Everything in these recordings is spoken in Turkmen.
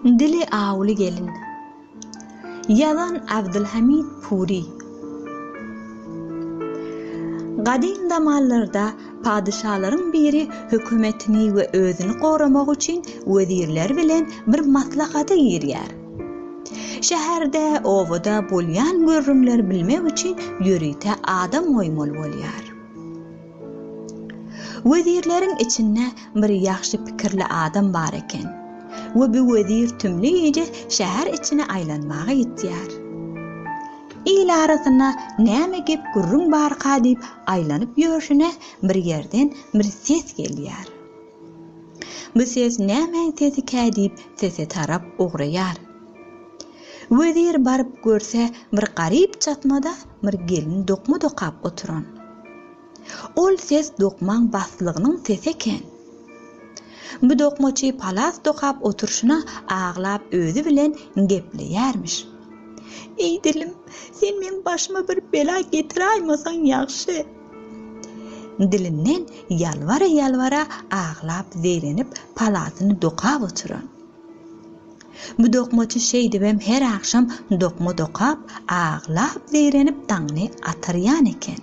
Dili awuly gelin. Ýazan Abdylhamid Pury. Gadym zamanlarda padyşalaryň biri hökümetini we özüni goramak üçin wezirler bilen bir maslahata girýär. Şäherde, obada bolýan gürrüňleri bilmek üçin ýörite adam goýmaly bolýar. Wezirleriň içinde bir ýagşy pikirli adam bar eken we bu wezir tümli gije şäher içine aýlanmaga gitýär. Il arasynda näme gep-gürrüň barka diýip aýlanyp ýörşüne bir ýerden bir ses gelýär. Bu ses nämäň sesikä diýip sese tarap ugraýar. Wezir baryp görse bir garyp çatmada bir gelin dokma dokap oturan. Ol ses dokmaň baslygynyň sesi eken. Bu dokmaçy palas dokap oturşyna aglap özi bilen gepleýärmiş. Eý dilim, sen meň başyma bir bela getiräýmasaň ýagşy. Dilinden ýalbara-ýalbara aglap zeýrenip palasyny dokap oturan. Bu dokmaçy şeýdibem her agşam dokma dokap, aglap zeýrenip daňyny atarýan eken.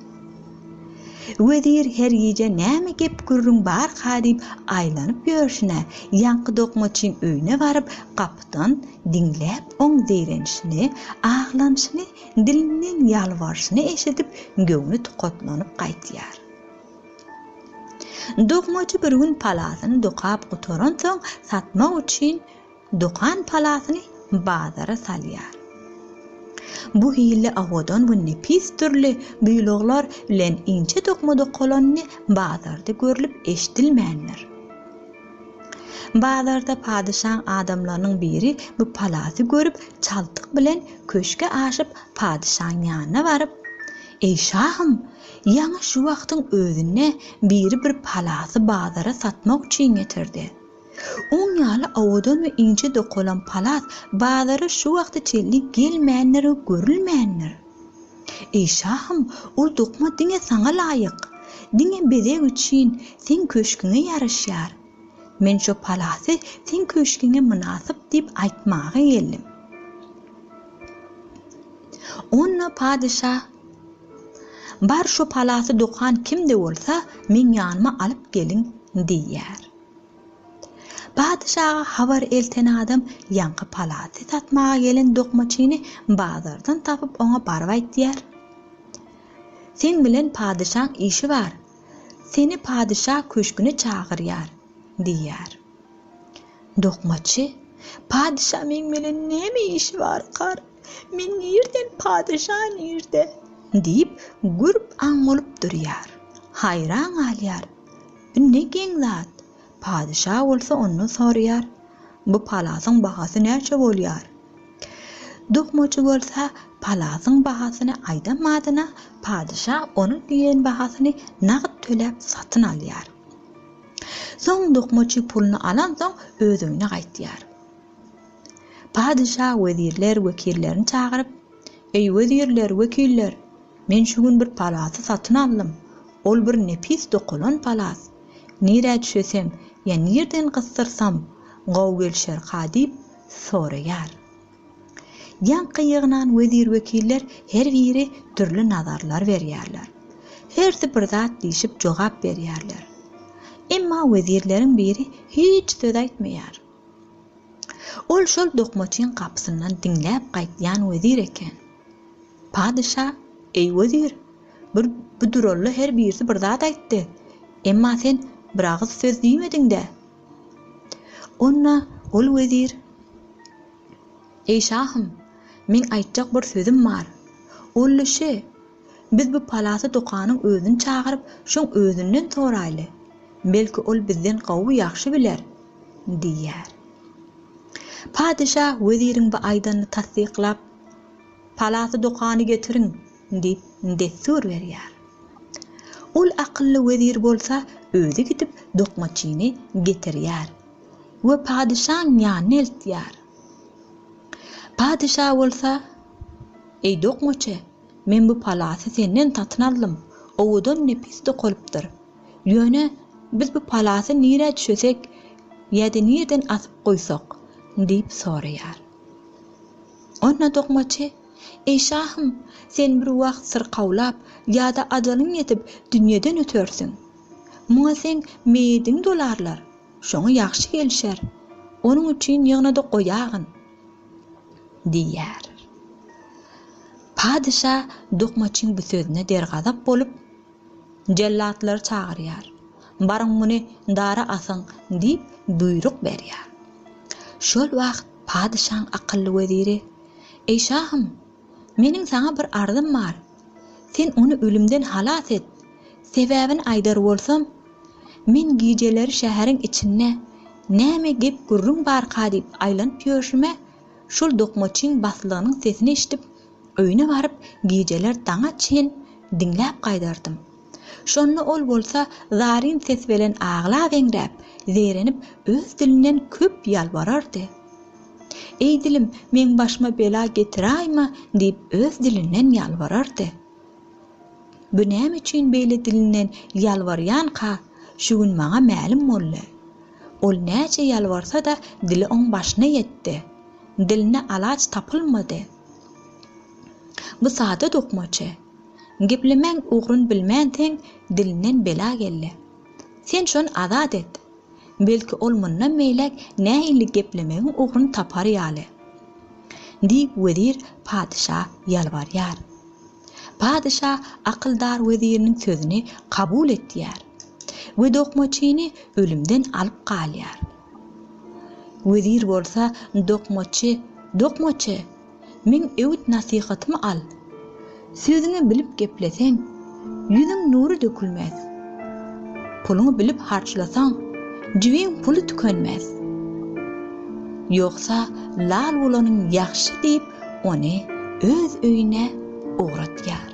Wezir her gije näme gep-gürrüň barka diýip aýlanyp ýörşüne, ýaňky dokmaçyň öýüne baryp gapydan diňläp oň zeýrenişini, aglanyşyny Dilinden ýalbaryşyny eşidip, göwni tukatlanyp gaýtýar. Dokmajy bir gün palasyny dokap gutaransoň, satmak üçin dokan palasyny bazara salýar. Bu hili owadan we nepis dürli buýluglar bilen inçe dokma dokalanyny bazarda görlüp-eşidilmändir. Bazarda padyşaň adamlarynyň biri bu palaty görüp, çaltyk bilen köşge aşyp, padyşaň ýanyna baryp, Eý şahym, ýaňy şu wagtyň özünde biri bir palaty bazara satmak üçin getirdi. Oň ýaly owadan we inçe dokalan palat bazara şu wagta çenli gelmändir we görülmändir. Eý şahym, ol dokma diňe saňa laýyk. Diňe bezeg üçin seň köşgüňe ýaraşýar. Men şo palasy seň köşgüňe mynasyp diýip aýtmaga geldim. Onda patyşa, Bar şo palasy dokan kim-de bolsa, meň ýanyma alyp geliň diýýär. Patyşaga habar elten adam ýaňky palaty satmaga gelen dokmaçyny bazardan tapyp oňa baryp aýtýar, Seň bilen patyşaň işi bar, seni patyşa köşgüne çagyrýar diýýär. Dokmaçy, Patyşa meň bilen näme işi barkar? Men nirden patyşa nirde? diýip, gürp-aň bolup durýar. Haýran galýar. Indi geň zat! Patyşa bolsa ondan soraýar, Bu palasyň bahasy näçe bolýar? Dokmaçy bolsa palasyň bahasyny aýdan badyna, patyşa onuň diýen bahasyny nagt töläp satyn alýar. Soň dokmaçy puluny alansoň öz öýüne gaýtýar. Patyşa wezirler, wekillerini çagyryp, Eý wezirler, wekiller! Men şu gün bir palasy satyn aldym. Ol bir nepis dokalan palas. Nirä düşesem ýa nirden gysdyrsam, gowy gelişerka diýip soraýar. Ýaňky ýygnan wezir-wekiller her biri dürli nazarlar berýärler. Hersi bir zat diýşip jogap berýärler. Emma wezirleriň biri hiç söz aýtmaýar. Ol şol dokmaçyň gapysyndan diňläp gaýtýan wezir eken. Patyşa, Eý wezir, bir bu duralla her birisi bir zat aýtdy. Emma sen bir agyz söz diýmediň-dä? Onda ol wezir, Eý şahym, meň aýtjak bir sözüm bar. Ol-da şü, Biz bu palasy dokanyň özüni çagyryp, şoň özünden soraýly. Belki, ol bizden gowy ýagşy biler? diýýär. Patyşa weziriň bu aýdanyny tassyklap, Palasy dokany getiriň! diýip, dessur berýär. Ol akylly wezir bolsa özi gidip dokmaçyny getirýär we patyşaň ýanyna eltýär. Patyşa bolsa, Eý dokmaçy! Men bu palasy senden satyn aldym, owadan nepis dokalypdyr. Ýöne, biz bu palasy nirä düşesek ýa-da nireden asyp goýsak? diýip soraýar. Onda dokmaçy, Eý şahym, sen bir wagt syrkawlap ýa-da ajalyň ýetip dünýeden ötersiň. Muňa seň meýediň dolarlar, şoňa ýagşy gelişer. Onuň üçin ýygnadyk oýagyn. diýýär. Patyşa dokmaçyň bu sözüne dergazap bolup, jellatlary çagyrýar. Baryň muny dara asyň diýip buýruk berýär. Şol wagt patyşaň akylly weziri, Eý şahym! Meniň saňa bir arzym bar. Sen ony ölümden halas et. Sebäbini aýdar bolsam, men gijeleri şäheriň içinde näme gep-gürrüň barka diýip aýlanyp ýörşüme, şol dokmaçyň baslygynyň sesini eşidip, öýüne baryp, gijeler daňa çen diňläp gaýdardym. Şonda ol bolsa zaryn ses belen aglabeňräp, zeýrenip öz dilinden köp ýalbarardy. Eý dilim, meň başyma bela getiräýme diýip öz dilinden ýalbarardy. Bu näme üçin beýle dilinden ýalbarýanka şu gün maňa mälim boldy. Ol näçe ýalbarsa-da dili oň başyna ýetdi. Diline alaç tapylmady. Bu sada dokmaçy. Geplemäň ugrun bilmänsiň dilinden bela geldi. Sen şony azat et. Belki ol mundan beýläk nähili geplemegiň ugrun tapar ýaly. Diýip wezir patyşa ýalbarýar. Patyşa akyldar weziriniň sözüni kabul etýär we dokmaçyny ölümden alyp galýar. Wezir bolsa dokmaçy, Dokmaçy! Meň öwüt-nasihatymy al. Sözüňi bilip gepleseň, ýüzüň nury dökülmez. Puluňy bilip harçlasaň, jibiň puly tükenmez. Ýogsa lal bolanyň ýagşy diýip, ony öz öýüne ugratýar.